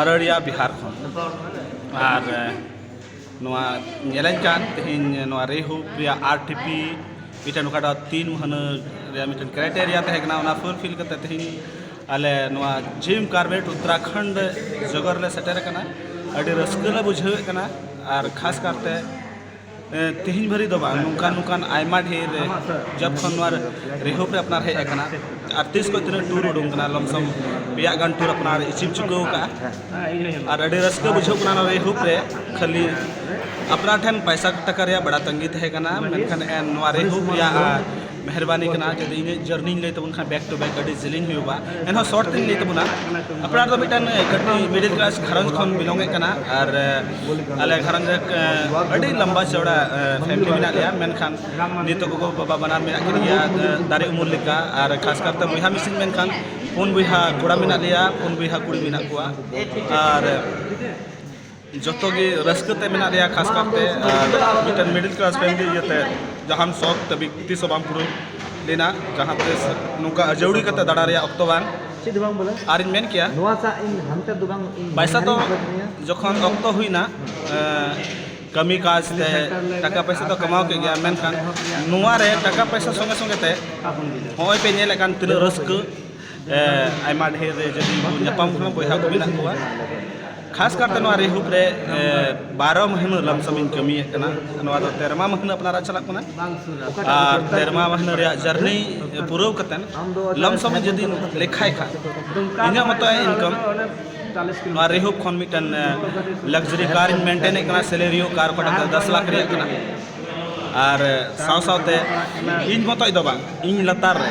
ᱟᱨᱟᱨᱤᱭᱟ ᱵᱤᱦᱟᱨ ᱠᱷᱚᱱ ᱟᱨ ᱱᱚᱣᱟ ᱧᱮᱞᱮᱧ ᱠᱟᱱ ᱛᱮᱦᱮᱧ ᱱᱚᱣᱟ ᱨᱮᱦᱩ ᱨᱮᱭᱟᱜ ᱟᱨ ᱴᱤ ᱯᱤ ᱢᱤᱫᱴᱮᱱ ᱚᱠᱟᱴᱟᱜ ᱛᱤᱱ ᱢᱟᱹᱦᱱᱟᱹ ᱨᱮᱭᱟᱜ ᱢᱤᱫᱴᱮᱱ ᱠᱨᱟᱭᱴᱮᱨᱤᱭᱟ ᱛᱟᱦᱮᱸ ᱠᱟᱱᱟ ᱚᱱᱟ ᱯᱷᱩᱞᱯᱷᱤᱞ ᱠᱟᱛᱮ ᱛᱮᱦᱮᱧ ᱟᱞᱮ ᱱᱚᱣᱟ ᱡᱤᱢ ᱠᱟᱨᱵᱮᱴ ᱩᱛᱛᱚᱨᱟᱠᱷᱚᱸᱰ ᱡᱚᱜᱚᱨ ᱞᱮ ᱥᱮᱴᱮᱨ ᱟᱠᱟᱱᱟ ᱟᱹᱰᱤ ᱨᱟᱹᱥᱠᱟᱹ ᱞᱮ ᱵᱩᱡᱷᱟᱹᱣᱮᱫ ᱠᱟᱱᱟ ᱟᱨ ᱠᱷᱟᱥ ᱠᱟᱨᱛᱮ ᱛᱮᱦᱮᱧ ᱵᱷᱟᱹᱨᱤ ᱫᱚ ᱵᱟᱝ ᱱᱚᱝᱠᱟᱱ ᱱᱚᱝᱠᱟᱱ ᱟᱭᱢᱟ ᱰᱷᱮᱨ ᱡᱚᱵ ᱠᱷᱚᱱ ᱱᱚᱣᱟ ᱨᱮᱦᱚᱠ ᱨᱮ ᱟᱯᱱᱟᱨ ᱦᱮᱡ ᱟᱠᱟᱱᱟ ᱟᱨ ᱛᱤᱥ ᱠᱷᱚᱱ ᱛᱤᱱᱟᱹᱜ ᱴᱩᱨ ᱩᱰᱩᱝ ᱠᱟᱱᱟ ᱞᱚᱢᱥᱚᱢ ᱯᱮᱭᱟ ᱜᱟᱱ ᱴᱩᱨ ᱟᱯᱱᱟᱨ ᱮᱪᱤᱵᱷ ᱪᱩᱠᱟᱹᱣ ᱠᱟᱜᱼᱟ ᱟᱨ ᱟᱹᱰᱤ ᱨᱟᱹᱥᱠᱟᱹ ᱵᱩᱡᱷᱟᱹᱜ ᱠᱟᱱᱟ ᱱᱚᱣᱟ ᱨᱮᱦᱚᱠ ᱨᱮ ᱠᱷᱟᱹᱞᱤ ᱟᱯᱱᱟᱨ ᱴᱷᱮᱱ ᱯᱚᱭᱥᱟ ᱴᱟᱠᱟ ᱨᱮᱭᱟᱜ ᱵᱟᱲᱟ ᱛᱟᱺᱜᱤ ᱛᱟᱦᱮᱸ ᱠᱟᱱᱟ ᱢᱮᱱᱠᱷᱟᱱ ᱱᱚᱣᱟ ᱨᱮᱦᱚᱠ ᱨᱮᱭᱟᱜ ᱢᱮᱦᱨᱵᱟᱱᱤ ᱠᱟᱱᱟ ᱡᱩᱫᱤ ᱤᱧᱟᱹᱜ ᱡᱟᱨᱱᱤᱧ ᱞᱟᱹᱭ ᱛᱟᱵᱚᱱ ᱠᱷᱟᱱ ᱵᱮᱠ ᱴᱩ ᱵᱮᱠ ᱟᱹᱰᱤ ᱡᱤᱞᱤᱧ ᱦᱩᱭᱩᱜᱼᱟ ᱮᱱᱦᱚᱸ ᱥᱚᱨᱴ ᱛᱮᱧ ᱞᱟᱹᱭ ᱛᱟᱵᱚᱱᱟ ᱟᱯᱱᱟᱨ ᱫᱚ ᱢᱤᱫᱴᱟᱝ ᱠᱟᱹᱴᱤᱡ ᱢᱤᱰᱤᱞ ᱠᱞᱟᱥ ᱜᱷᱟᱨᱚᱸᱡᱽ ᱠᱷᱚᱱ ᱵᱤᱞᱚᱝ ᱮᱫ ᱠᱟᱱᱟ ᱟᱨ ᱟᱞᱮ ᱜᱷᱟᱨᱚᱸᱡᱽ ᱨᱮ ᱟᱹᱰᱤ ᱞᱟᱢᱵᱟ ᱪᱚᱲᱟ ᱯᱷᱮᱢᱤᱞᱤ ᱢᱮᱱᱟᱜ ᱞᱮᱭᱟ ᱢᱮᱱᱠᱷᱟᱱ ᱱᱤᱛᱚᱜ ᱜᱚᱜᱚ ᱵᱟᱵᱟ ᱵᱟᱱᱟᱨ ᱢᱮᱱᱟᱜ ᱠᱤᱱ ᱜᱮᱭᱟ ᱫᱟᱨᱮ ᱩᱢᱩᱞ ᱞᱮᱠᱟ ᱟᱨ ᱠᱷᱟᱥ ᱠᱟᱨᱛᱮ ᱵᱚᱭᱦᱟ ᱢᱤᱥᱤ ᱢᱮᱱᱠᱷᱟᱱ ᱯᱩᱱ ᱵᱚᱭᱦᱟ ᱠᱚᱲᱟ ᱢᱮᱱᱟᱜ ᱞᱮᱭᱟ ᱯᱩᱱ ᱵᱚᱭᱦᱟ ᱠᱩᱲᱤ ᱢᱮᱱᱟᱜ ᱠᱚᱣᱟ ᱟᱨ ᱡᱚᱛᱚ ᱜᱮ ᱨᱟᱹᱥᱠᱟᱹ ᱛᱮ ᱢᱮᱱᱟᱜ ᱞᱮᱭᱟ ᱠᱷᱟᱥ ᱠᱟᱨᱛᱮ ᱢᱤᱫᱴᱮᱱ ᱢᱤᱰᱤᱞ ᱠᱞᱟᱥ ᱯᱷᱮᱢᱤᱞᱤ ᱤᱭᱟᱹᱛᱮ ᱡᱟᱦᱟᱱ ᱥᱚᱠ ᱛᱟᱹᱵᱤ ᱛᱤᱥ ᱦᱚᱸ ᱵᱟᱝ ᱯᱩᱨᱟᱹᱣ ᱞᱮᱱᱟ ᱡᱟᱦᱟᱸ ᱛᱤᱥ ᱱᱚᱝᱠᱟ ᱟᱹᱡᱟᱹᱣᱲᱤ ᱠᱟᱛᱮ ᱫᱟᱬᱟ ᱨᱮᱭᱟᱜ ᱚᱠᱛᱚ ᱵᱟᱝ ᱪᱮᱫ ᱵᱟᱝ ᱵᱚᱞᱮ ᱟᱨᱤᱧ ᱢᱮᱱ ᱠᱮᱭᱟ ᱱᱚᱣᱟ ᱥᱟ ᱤᱧ ᱦᱟᱱᱛᱮ ᱫᱚ ᱵᱟᱝ ᱯᱟᱭᱥᱟ ᱫᱚ ᱡᱚᱠᱷᱚᱱ ᱚᱠᱛᱚ ᱦᱩᱭᱱᱟ ᱠᱟᱹᱢᱤ ᱠᱟᱡᱽ ᱛᱮ ᱴᱟᱠᱟ ᱯᱚᱭᱥᱟ ᱫᱚ ᱠᱟᱢᱟᱣ ᱠᱮᱫ ᱜᱮᱭᱟ ᱢᱮᱱᱠᱷᱟᱱ ᱱᱚᱣᱟ ᱨᱮ ᱴᱟᱠᱟ ᱯᱚᱭᱥᱟ ᱥᱚᱸᱜᱮ ᱥᱚᱸᱜᱮ ᱛᱮ ᱱᱚᱜᱼᱚᱭ ᱯᱮ ᱧᱮᱞᱮᱫ ᱠᱟᱱ ᱛᱤᱱᱟᱹᱜ ᱨᱟᱹᱥᱠᱟᱹ ᱟᱭᱢᱟ ᱰᱷᱮᱨ ᱡᱟᱹᱛᱤ ᱠᱚ ᱧᱟᱯᱟᱢ ᱠᱟᱱᱟ ᱵᱚᱭᱦᱟ ᱠᱚ ᱢᱮᱱᱟᱜ ᱠᱚᱣᱟ ᱠᱷᱟᱥ ᱠᱟᱨᱛᱮ ᱱᱚᱣᱟ ᱨᱮᱦᱩᱯ ᱨᱮ ᱵᱟᱨᱚ ᱢᱟᱹᱦᱱᱟᱹ ᱞᱟᱢᱥᱚᱢ ᱤᱧ ᱠᱟᱹᱢᱤᱭᱮᱫ ᱠᱟᱱᱟ ᱱᱚᱣᱟ ᱫᱚ ᱛᱮᱨᱢᱟ ᱢᱟᱹᱦᱱᱟᱹ ᱟᱯᱱᱟᱨᱟᱜ ᱪᱟᱞᱟᱜ ᱠᱟᱱᱟ ᱟᱨ ᱛᱮᱨᱢᱟ ᱢᱟᱹᱦᱱᱟᱹ ᱨᱮᱭᱟᱜ ᱡᱟᱨᱱᱤ ᱯᱩᱨᱟᱹᱣ ᱠᱟᱛᱮ ᱞᱟᱢᱥᱚᱢ ᱡᱩᱫᱤ ᱞᱮᱠᱷᱟᱭ ᱠᱷᱟᱱ ᱤᱧᱟᱹᱜ ᱢᱚᱛᱚ ᱤᱱᱠᱟᱢ ᱱᱚᱣᱟ ᱨᱮᱦᱩᱯ ᱠᱷᱚᱱ ᱢᱤᱫᱴᱮᱱ ᱞᱟᱠᱡᱟᱨᱤ ᱠᱟᱨ ᱤᱧ ᱢᱮᱱᱴᱮᱱᱮᱫ ᱠᱟᱱᱟ ᱥᱮᱞᱮᱨᱤᱭᱳ ᱠᱟᱨ ᱚᱠᱟᱴᱟᱜ ᱫᱚ ᱫᱚᱥ ᱞᱟᱠᱷ ᱨᱮᱭᱟᱜ ᱠᱟᱱᱟ ᱟᱨ ᱥᱟᱶ ᱥᱟᱶᱛᱮ ᱤᱧ ᱢᱚᱛᱚᱡ ᱫᱚ ᱵᱟᱝ ᱤᱧ ᱞᱟᱛᱟᱨ ᱨᱮ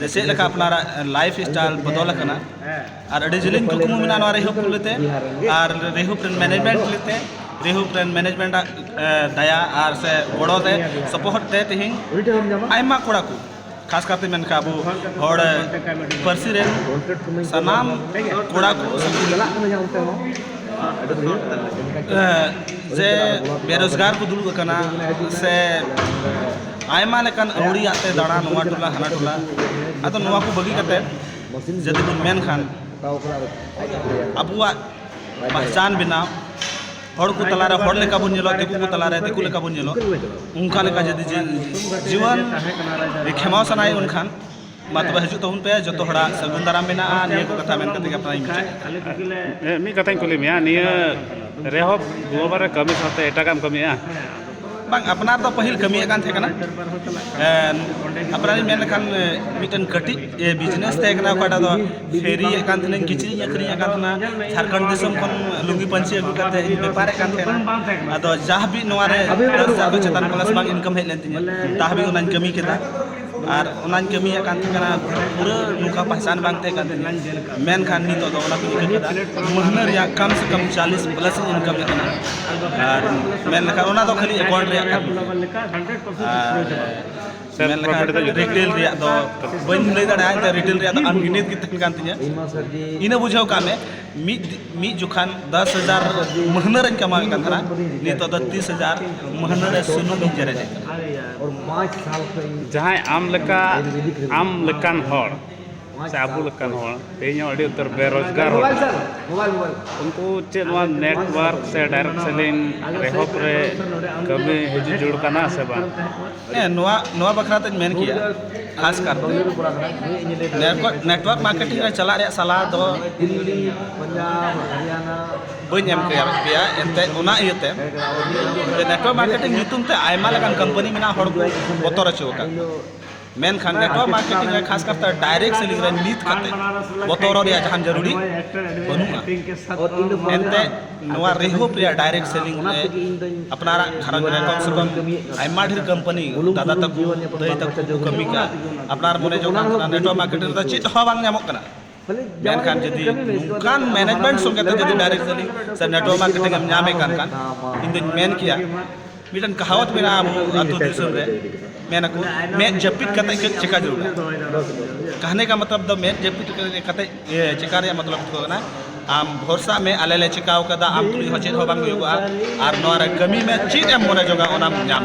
ᱡᱮ ᱪᱮᱫ ᱞᱮᱠᱟ ᱟᱯᱱᱟᱨᱟᱜ ᱞᱟᱭᱤᱯᱷ ᱥᱴᱟᱭᱤᱞ ᱵᱚᱫᱚᱞ ᱟᱠᱟᱱᱟ ᱟᱨ ᱟᱹᱰᱤ ᱡᱤᱞᱤᱧ ᱠᱩᱠᱢᱩ ᱢᱮᱱᱟᱜᱼᱟ ᱱᱚᱣᱟ ᱨᱮᱦᱩᱯ ᱞᱮᱛᱮ ᱟᱨ ᱨᱮᱦᱩᱯ ᱨᱮᱱ ᱢᱮᱱᱮᱡᱽᱢᱮᱱᱴ ᱞᱮᱛᱮ ᱨᱮᱦᱩᱯ ᱨᱮᱱ ᱢᱮᱱᱮᱡᱽᱢᱮᱱᱴ ᱟᱜ ᱫᱟᱭᱟ ᱟᱨ ᱥᱮ ᱜᱚᱲᱚ ᱛᱮ ᱥᱚᱯᱚᱦᱚᱫ ᱛᱮ ᱛᱮᱦᱮᱧ ᱟᱭᱢᱟ ᱠᱚᱲᱟ ᱠᱚ ᱠᱷᱟᱥ ᱠᱟᱛᱮ ᱢᱮᱱ ᱠᱟᱜ ᱟᱵᱚ ᱦᱚᱲ ᱯᱟᱹᱨᱥᱤ ᱨᱮᱱ ᱥᱟᱱᱟᱢ ᱠᱚᱲᱟ ᱠᱚ ᱡᱮ ᱵᱮᱨᱚᱡᱽᱜᱟᱨ ᱠᱚ ᱫᱩᱲᱩᱵ ᱟᱠᱟᱱᱟ ᱥᱮ ᱟᱭᱢᱟ ᱞᱮᱠᱟᱱ ᱟᱹᱣᱲᱤ ᱟᱜ ᱛᱮ ᱫᱟᱬᱟ ᱱᱚᱣᱟ ᱴᱚᱞᱟ ᱦᱟᱱᱟ ᱴᱚᱞᱟ ᱟᱫᱚ ᱱᱚᱣᱟ ᱠᱚ ᱵᱟᱹᱜᱤ ᱠᱟᱛᱮ ᱡᱩᱫᱤ ᱵᱚᱱ ᱢᱮᱱ ᱠᱷᱟᱱ ᱟᱵᱚᱣᱟᱜ ᱯᱟᱦᱪᱟᱱ ᱵᱮᱱᱟᱣ ᱦᱚᱲ ᱠᱚ ᱛᱟᱞᱟ ᱨᱮ ᱦᱚᱲ ᱞᱮᱠᱟ ᱵᱚᱱ ᱧᱮᱞᱚᱜ ᱫᱤᱠᱩ ᱠᱚ ᱛᱟᱞᱟ ᱨᱮ ᱫᱤᱠᱩ ᱞᱮᱠᱟ ᱵᱚᱱ ᱧᱮᱞᱚᱜ ᱚᱱᱠᱟ ᱞᱮᱠᱟ ᱡᱩᱫᱤ ᱡᱤᱭᱚᱱ ᱠᱷᱮᱢᱟᱣ ᱥᱟᱱᱟᱭᱮᱫ ᱵᱚᱱ ᱠᱷᱟᱱ ᱢᱟ ᱛᱚᱵᱮ ᱦᱤᱡᱩᱜ ᱛᱟᱵᱚᱱ ᱯᱮ ᱡᱚᱛᱚ ᱦᱚᱲᱟᱜ ᱥᱟᱹᱜᱩᱱ ᱫᱟᱨᱟᱢ ᱢᱮᱱᱟᱜᱼᱟ ᱱᱤᱭᱟᱹ ᱠᱚ ᱠᱟᱛᱷᱟ ᱢᱮᱱ ᱠᱟᱛᱮ ᱜᱮ ᱟᱯᱱᱟᱨᱤᱧ ᱢᱩᱪᱟᱹᱫ ᱢᱤᱫ ᱠᱟᱛᱷᱟᱧ ᱠᱩᱞᱤ ᱢᱮᱭᱟ ᱱᱤᱭᱟᱹ ᱨᱮᱦᱚᱸ ᱜᱳᱵᱟᱨ ᱨᱮ ᱠᱟᱹᱢᱤ ᱥᱟᱶᱛᱮ ᱮᱴᱟᱜᱟᱜ ᱮᱢ ᱠᱟᱹᱢᱤᱭᱟ ᱵᱟᱝ ᱟᱯᱱᱟᱨ ᱫᱚ ᱯᱟᱹᱦᱤᱞ ᱠᱟᱹᱢᱤᱭᱮᱫ ᱠᱟᱱ ᱛᱟᱦᱮᱸ ᱠᱟᱱᱟ ᱟᱯᱱᱟᱨᱤᱧ ᱢᱮᱱ ᱞᱮᱠᱷᱟᱱ ᱢᱤᱫᱴᱮᱱ ᱠᱟᱹᱴᱤᱡ ᱵᱤᱡᱽᱱᱮᱥ ᱛᱟᱦᱮᱸ ᱠᱟᱱᱟ ᱚᱠᱟᱴᱟᱜ ᱫᱚ ᱯᱷᱮᱨᱤᱭᱮᱫ ᱠᱟᱱ ᱛᱟᱦᱮᱱᱟᱹᱧ ᱠᱤᱪᱨᱤᱡ ᱤᱧ ᱟᱹᱠᱷᱨᱤᱧᱮᱫ ᱠᱟᱱ ᱛᱟᱦᱮᱱᱟ ᱡᱷᱟᱲᱠᱷᱚᱸᱰ ᱫᱤᱥᱚᱢ ᱠᱷᱚᱱ ᱞᱩᱝᱜᱤ ᱯᱟᱹᱧᱪᱤ ᱟᱹᱜᱩ ᱠᱟᱛᱮ ᱤᱧ ᱵᱮᱯᱟᱨᱮᱫ ᱠᱟᱱ ᱛᱟᱦᱮᱱᱟ ᱟᱫᱚ ᱡᱟ ᱦᱟᱹᱵᱤᱡ ᱱᱚᱣᱟ ᱨᱮ ᱫᱚᱥ ᱦᱟᱡᱟᱨ ᱠᱷᱚᱱ ᱪᱮᱛᱟᱱ ᱯᱞᱟᱥ ᱵᱟᱝ ᱤᱱᱠᱟᱢ ᱦᱮᱡ ᱞᱮᱱ ᱛᱤᱧᱟᱹ ᱛᱟ ᱦᱟᱹᱵᱤᱡ ᱚᱱᱟᱧ ᱠᱟᱹᱢᱤ ᱠᱮᱫᱟ ᱟᱨ ᱚᱱᱟᱧ ᱠᱟᱹᱢᱤᱭᱮᱫ ᱠᱟᱱ ᱛᱟᱦᱮᱸ ᱠᱟᱱᱟ ᱯᱩᱨᱟᱹ ᱱᱚᱝᱠᱟ ᱯᱟᱦᱪᱟᱱ ᱵᱟᱝ ᱛᱟᱦᱮᱸ ᱠᱟᱱ ᱛᱤᱧᱟᱹ ᱢᱮᱱᱠᱷᱟᱱ ᱱᱤᱛᱚᱜ ᱫᱚ ᱚᱱᱟ ᱠᱚᱧ ᱤᱠᱟᱹ ᱠᱮᱫᱟ ᱢᱟᱹᱦᱱᱟᱹ ᱨᱮᱭᱟᱜ ᱠᱟᱢ ᱥᱮ ᱠᱟᱢ ᱪᱟᱞᱤᱥ ᱯᱞᱟᱥ ᱤᱧ ᱤᱱᱠᱟᱢ ᱮᱫ ᱠᱟᱱᱟ ᱟᱨ ᱢᱮᱱ ᱞᱮᱠᱷᱟᱱ ᱚᱱᱟ ᱫᱚ ᱠᱷᱟᱹᱞᱤ ᱮᱠᱟᱣᱩᱱᱴ ᱨᱮᱭᱟᱜ ᱠᱟᱱ ᱟᱨ ᱢᱮᱱ ᱞᱮᱠᱷᱟᱱ ᱨᱤᱴᱮᱞ ᱨᱮᱭᱟᱜ ᱫᱚ ᱵᱟᱹᱧ ᱞᱟᱹᱭ ᱫᱟᱲᱮᱭᱟᱜᱼᱟ ᱨᱤᱴᱮᱞ ᱨᱮᱭᱟᱜ ᱫᱚ ᱟᱱᱜᱤᱱᱤᱛ ᱜᱮ ᱛᱟᱦᱮᱱ ᱠᱟᱱ ᱛᱤᱧᱟᱹ ᱤᱱᱟᱹ ᱵᱩᱡᱷᱟᱹᱣ ᱠᱟᱜ ᱢᱮ ᱢᱤᱫ ᱢᱤᱫ ᱡᱚᱠᱷᱟᱱ ᱫᱚᱥ ᱦᱟᱡᱟᱨ ᱢᱟᱹᱦᱱᱟᱹ ᱨᱮᱧ ᱠᱟᱢᱟᱣᱮᱫ ᱠᱟᱱ ᱛᱟᱦᱮᱱᱟ ᱱᱤᱛᱚᱜ ᱫᱚ ᱛᱤᱥ ᱦᱟᱡᱟᱨ ᱢᱟᱹᱦᱱᱟᱹ ᱨᱮ ᱥᱩᱱᱩᱢ ᱤᱧ ᱡᱮᱨᱮᱫ ᱡᱟᱦᱟᱸᱭ ᱟᱢ ᱞᱮᱠᱟ ᱟᱢ ᱞᱮᱠᱟᱱ ᱦᱚᱲ ᱥᱮ ᱟᱵᱚ ᱞᱮᱠᱟᱱ ᱦᱚᱲ ᱛᱮᱦᱮᱧ ᱦᱚᱸ ᱟᱹᱰᱤ ᱩᱛᱟᱹᱨ ᱵᱮᱨᱳᱡᱽᱜᱟᱨ ᱦᱚᱲ ᱩᱱᱠᱩ ᱪᱮᱫ ᱱᱚᱣᱟ ᱱᱮᱴᱳᱣᱟᱨᱠ ᱥᱮ ᱰᱟᱭᱨᱮᱠᱴ ᱥᱮᱞᱤᱝ ᱮᱦᱚᱵ ᱨᱮ ᱠᱟᱹᱢᱤ ᱦᱤᱡᱩᱜ ᱡᱟᱹᱨᱩᱲ ᱠᱟᱱᱟ ᱥᱮ ᱵᱟᱝ ᱦᱮᱸ ᱱᱚᱣᱟ ᱱᱚᱣᱟ ᱵᱟᱠᱷᱨᱟ ᱛᱮᱧ ᱢᱮᱱ ᱠᱮᱭᱟ ᱠᱷᱟᱥ ᱠᱟᱨᱛᱮ ᱱᱮᱴᱣᱟᱨᱠ ᱢᱟᱨᱠᱮᱴᱤᱝ ᱨᱮ ᱪᱟᱞᱟᱜ ᱨᱮᱭᱟᱜ ᱥᱟᱞᱦᱟ ᱫᱚ ᱵᱟᱹᱧ ᱮᱢ ᱠᱮᱭᱟ ᱯᱮᱭᱟ ᱮᱱᱛᱮ ᱚᱱᱟ ᱤᱭᱟᱹᱛᱮ ᱱᱮᱴᱣᱟᱨᱠ ᱢᱟᱨᱠᱮᱴᱤᱝ ᱧᱩᱛᱩᱢ ᱛᱮ ᱟᱭᱢᱟ ᱞᱮᱠᱟᱱ ᱠᱳᱢᱯᱟᱱᱤ ᱢᱮᱱᱟᱜ ᱦᱚᱲ ᱠᱚ ᱵᱚᱛᱚᱨ ᱦᱚᱪᱚ ᱟᱠᱟᱫ ᱢᱮᱱᱠᱷᱟᱱ ᱱᱮᱴᱣᱟᱨᱠ ᱢᱟᱨᱠᱮᱴᱤᱝ ᱨᱮ ᱠᱷᱟᱥ ᱠᱟᱨᱛᱮ ᱰᱟᱭᱨᱮᱠᱴ ᱥᱮᱞᱤᱝ ᱨᱮ ᱱᱤᱛ ᱠᱟᱛᱮ ᱵᱚᱛᱚᱨᱚᱜ ᱨᱮᱭᱟᱜ ᱡᱟᱦᱟᱱ ᱡᱟᱹᱨᱩᱲᱤ ᱵᱟᱹᱱᱩᱜᱼᱟ ᱮᱱᱛᱮ ᱱᱚᱣᱟ ᱨᱮᱦᱚᱯ ᱨᱮᱭᱟᱜ ᱰᱟᱭᱨᱮᱠᱴ ᱥᱮᱞᱤᱝ ᱨᱮ ᱟᱯᱱᱟᱨᱟᱜ ᱜᱷᱟᱨᱚᱸᱡᱽ ᱨᱮ ᱠᱚᱢ ᱥᱮ ᱠᱚᱢ ᱟᱭᱢᱟ ᱰᱷᱮᱨ ᱠᱳᱢᱯᱟᱱᱤ ᱫᱟᱫᱟ ᱛᱟᱠᱚ ᱫᱟᱹᱭ ᱛᱟᱠᱚ ᱠᱚ ᱠᱟᱹᱢᱤ ᱠᱟᱱᱟ ᱟᱯᱱᱟᱨ ᱢᱚᱱᱮ ᱡᱚᱝ ᱠᱟᱱᱟ ᱱᱮᱴᱣᱟᱨᱠ ᱢᱟᱨᱠᱮᱴᱤᱝ ᱨᱮᱫᱚ ᱪᱮᱫ ᱦᱚᱸ ᱵᱟᱝ ᱧᱟᱢᱚᱜ ᱠᱟᱱᱟ ᱢᱮᱱᱠᱷᱟᱱ ᱡᱩᱫᱤ ᱱᱚᱝᱠᱟᱱ ᱢᱮᱱᱮᱡᱽᱢᱮᱱᱴ ᱥᱚᱸᱜᱮ ᱛᱮ ᱡᱩᱫᱤ ᱰᱟᱭᱨᱮᱠᱴ ᱥᱮᱞᱤᱝ ᱥᱮ ᱱᱮᱴᱣᱟᱨᱠ ᱢᱟᱨᱠᱮᱴᱤᱝ ᱮᱢ ᱧᱟᱢᱮᱫ ᱠᱟᱱ ᱠᱷᱟᱱ ᱤᱧ ᱫᱩᱧ ᱢᱮᱱ ᱠᱮᱭᱟ ᱢᱤᱫᱴᱮᱱ ᱠᱟᱦᱟᱣᱟᱛ ᱢᱮᱱᱟᱜᱼᱟ ᱟᱵᱚ ᱟᱛᱳ ᱫᱤᱥᱚᱢ ᱨᱮ ᱢᱮᱱ ᱟᱠᱚ ᱢᱮᱫ ᱡᱟᱹᱯᱤᱫ ᱠᱟᱛᱮ ᱪᱮᱫ ᱪᱮᱠᱟ ᱡᱟᱹᱨᱩᱲᱟ ᱠᱟᱦᱱᱮ ᱠᱟ ᱢᱚᱛᱞᱚᱵ ᱫᱚ ᱢᱮᱫ ᱡᱟᱹᱯᱤᱫ ᱠᱟᱛᱮ ᱪᱮᱠᱟ ᱨᱮᱭᱟᱜ ᱢᱚᱛᱞᱚᱵ ᱫᱚ ᱠᱟᱱᱟ ᱟᱢ ᱵᱷᱚᱨᱥᱟ ᱢᱮ ᱟᱞᱮ ᱞᱮ ᱪᱮᱠᱟᱣ ᱠᱟᱫᱟ ᱟᱢ ᱛᱩᱞᱩᱡ ᱦᱚᱸ ᱪᱮᱫ ᱦᱚᱸ ᱵᱟᱝ ᱦᱩᱭᱩᱜᱚᱜᱼᱟ ᱟᱨ ᱱᱚᱣᱟ ᱨᱮ ᱠᱟᱹᱢᱤ ᱢᱮ ᱪᱮᱫ ᱮᱢ ᱢᱚᱱᱮ ᱡᱚᱜᱟ ᱚᱱᱟᱢ ᱧᱟᱢ